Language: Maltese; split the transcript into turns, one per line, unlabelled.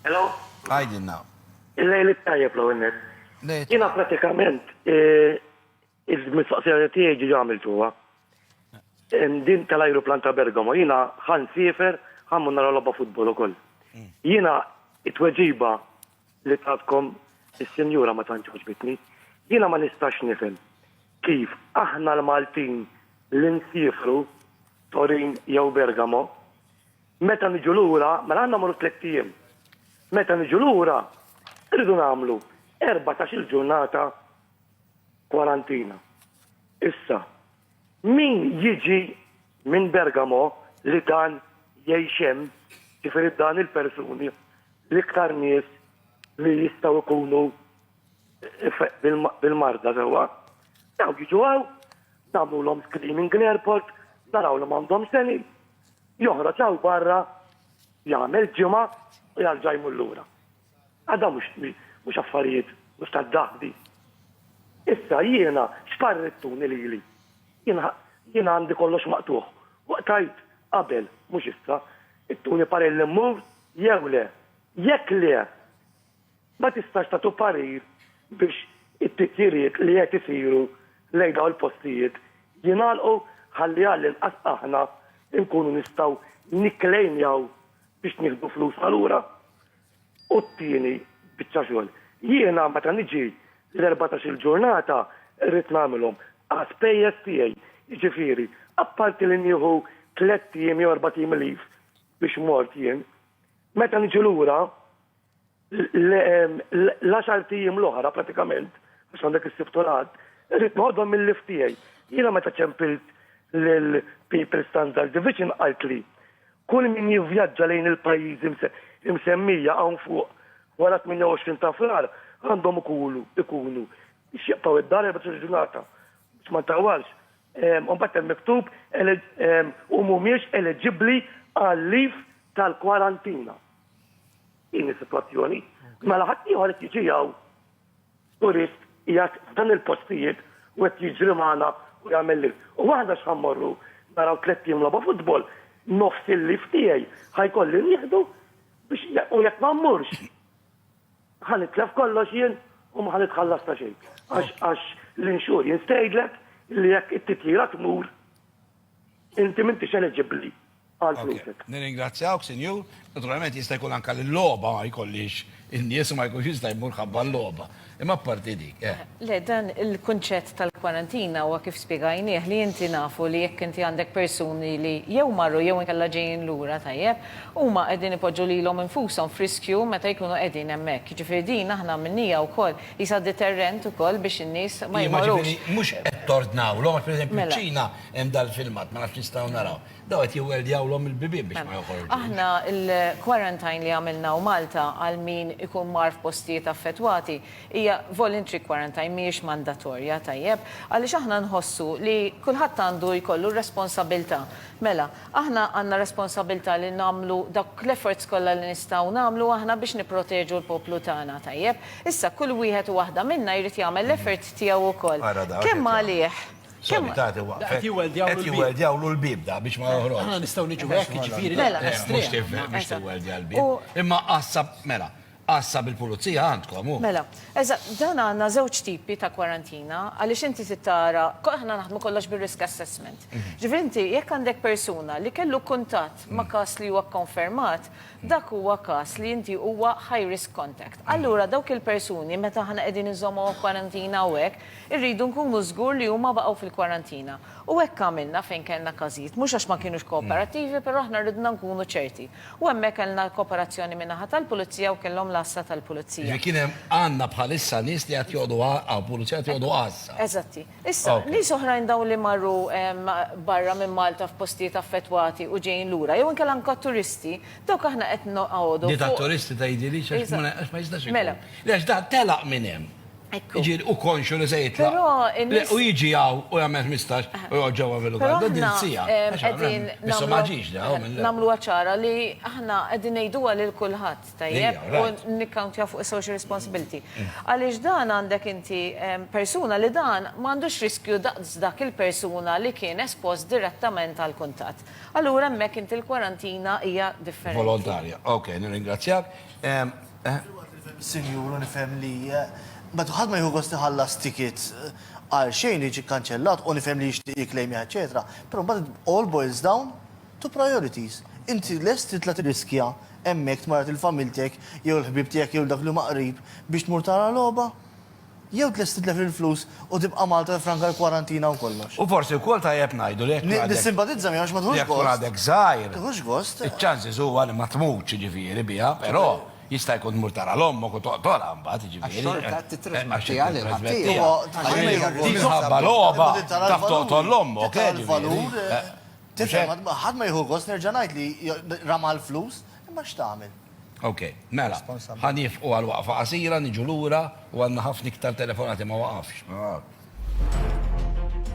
Hello? Għajdilna.
Il-lejl
it-tajjeb l net. Jina pratikament eh, il-mistoqsija tiegħi ġi għamiltuha. Din tal-ajruplan ta' Bergamo, jina ħan sifer, ħan nara logħba futbol ukoll. Mm. Jina it-tweġiba li tatkom is-sinjura ma tantx ġbitni, jina ma nistax nifhem kif aħna l-Maltin l-insifru Torin jew Bergamo Meta niġu lura, mela għandna mmorru tlett ijiem. Meta niġu lura, irridu nagħmlu erbatax-il ġurnata kwarantina. Issa, min jiġi minn Bergamo li dan jgħix hemm, jiġifieri dan il-persuni, l-iktar nies li jistgħu jkunu bil-marda sewwa, dawn jiġu hawn, nagħmlulhom screening l-airport, naraw li m'għandhomx x'eni, Joħroġ hawn barra, jagħmel ġimgħa u jarġa' jmur lura. Għad dawn mhux mhux affarijiet mhux tad-daħbi. Issa jiena x'parrittuni lili? Jien jiena għandi kollox maqtugħ. Waqtajt qabel, mhux issa. Ittuni parell immur jew le? Jekk le! Ma tistax tagħtu parir biex it-titjiriet li qed isiru lejn dawn il-postijiet jingħalqu ħalli għall-inqas aħna nkunu nistgħu nikklejmjaw biex nieħdu flusna lura. U t-tieni biċċa xogħol, jiena meta niġi l-erbatax-il ġurnata rrid nagħmilhom a spejjeż tiegħi, jiġifieri apparti li nieħu tlett ijiem jew erbat ijiem leave biex mort jien, meta niġi lura, L-għaxart ijiem l-oħra pratikament, għax għandek is-sibt u l-ħadd, irrid noħodhom mill-lift tiegħi. Jiena meta ċempilt lil People Standard Division qalt li kull min jivvjaġġa lejn il-pajjiżi msemmija hawn fuq wara 28 ta' Frar għandhom ikulu ikunu biex jibqgħu id-dar 14 ġurnata biex ma ntawwalx. Imbagħad hemm miktub u mhumiex eleġibbli għal-liv tal-kwarantina. Din is-sitwazzjoni. Mela ħaddieħor qed jiġi hawn turist qiegħed f'dan il-postijiet u qed jiġri magħna u jagħmel li. U aħna x'ħa mmorru naraw tliet tim logħba futbol, nofs il-lif tiegħi ħa jkolli nieħdu biex u jekk ma mmurx ħa nitlef kollox jien u ma ħa nitħallas ta' xejn. Għax l-insurance tgħidlek li jekk it-titjira tmur Inti m'intix eliġibbli għal flusek. Nirringrazzjawk, Sinjur.
Naturalment jista' jkun anke li l-logħba ma jkollhiex in-nies u ma jkunx jista' jmur ħabba l-logħba. Imma apparti dik, eh. Le, dan
il-kunċett tal-kwarantina huwa kif spjegajnieh li inti nafu li jekk inti għandek persuni li jew marru jew inkella ġejjin lura, tajjeb, huma qegħdin ipoġġu lilhom infushom f'riskju meta jkunu qegħdin hemmhekk. Jiġifieri din aħna għamilniha wkoll Qisha deterrent ukoll biex in-nies ma jmorrux. Immaġini, mhux qed
tordnawlhom għax pereżempju fiċ-Ċina hemm dal-filmat, ma nafx nistgħu naraw. Dawn qed jiwweldjawlhom il-bibien biex ma joħorġux. Aħna
l-quarantine li għamilna u Malta għal min ikun mar f'postijiet affettwati hija voluntary quarantine mhijiex mandatorja, tajjeb, għaliex aħna nħossu li kulħadd għandu jkollu r-responsabilità. Mela, Aħna għandna responsabilità li nagħmlu dawk l-efforts kollha li nistgħu nagħmlu aħna biex nipproteġu l-poplu tagħna, tajjeb? Issa kull wieħed u waħda minna jrid jagħmel l-effort tiegħu wkoll. Kemm għalih, kemm.
Qed jiwweldjawlu l-bieb da biex ma joħroġx. Aħna nistgħu niġu hekk,
jiġifieri. Mela. Mhux tifhem
biex tiwweldja l-bieb. Imma qassab, mela. Għassa bil-pulizija għandkom, hu. Mela, eżatt,
dan għandna żewġ tipi ta' kwarantina għaliex inti trid tara, aħna naħdmu kollox bir-risk assessment. Ġifieri inti jekk għandek persuna li kellu kuntatt ma' każ li huwa kkonfermat, dak huwa każ li inti huwa high risk contact. Allura dawk il-persuni meta aħna qegħdin inżommuhom f'kwarantina u hekk, irridu nkunu żgur li huma baqgħu fil-kwarantina. U hekk għamilna fejn kellna każijiet, mhux għax ma kinux kooperattivi, però aħna ridna nkunu ċerti. U hemmhekk kellna l-kooperazzjoni min-naħa tal-Pulizija u kellhom l-Għassa tal-Pulizija. Jiġifieri kien hemm, għandna
bħalissa nies li qed joqogħdu għa, hawn Pulizija qed joqogħdu Għassa. Eżatti. Issa,
nies oħrajn dawn li marru barra minn Malta f'postijiet affettwati u ġejjin lura, jew inkella anke t-turisti, dawk aħna qed noqogħdu fuq. Di
tat-turisti tgħidilix għax ma jistax ikun. Mela. Le għax dan
telaq
minn hemm.
Iġi u konxu
li se jitla. U
iġi għaw u
jgħamil 15 u jgħod ġewwa Villugal. Da din sija.
Għedin.
Issa
maġiġ da.
Namlu għacħara
li ħna għedin nejdu għal il-kulħat tajjeb u nikkantja
fuq social
responsibility. Għalix dan għandek inti persuna li dan mandux riskju daqs dak il-persuna li kien espost direttament għal kuntat. Allura mek inti l-kwarantina hija differenti. Volontarja. Ok,
nirringrazzjak. Eh,
Sinjuru nifhem li eh, meta ħadd ma jieħu gost iħallas ticket eh, għal xejn jiġi kkanċellat u nifhem li jixtieq jiklejmja eċetera, però mbagħad all boils down to priorities. Inti lest titla' tirriskja hemmhekk tmarad il-familtek jew il-ħbieb tiegħek jew dak li huma qrib biex tmur tara logħba? Jew tlest titlef il-flus u tibqa' Malta tiffranka l-kwarantina u kollox. U forsi wkoll tajjeb
ngħidu li jekk tkun għadek. Nissimpatizza miegħu għax ma
tieħux gost. Jekk tkun għadek żgħir. Tieħux
gost.
Iċ-chances huwa li ma
tmutx jiġifieri biha, però jista' jkun tmur tara 'l ommok u toqtolha mbagħad jiġifieri. Għax xorta qed tittrasmettiha
lil ħaddieħor.
Minħabba logħba taf toqtol 'l ommok. Tara l-valur.
Tifhem? Ħadd ma jieħu gost nerġa' ngħid li rama l-flus. Imma x'tagħmel? Ok,
mela, ħa niefqu għal waqfa qasira, niġu lura u għandna ħafna iktar telefonati ma waqafx.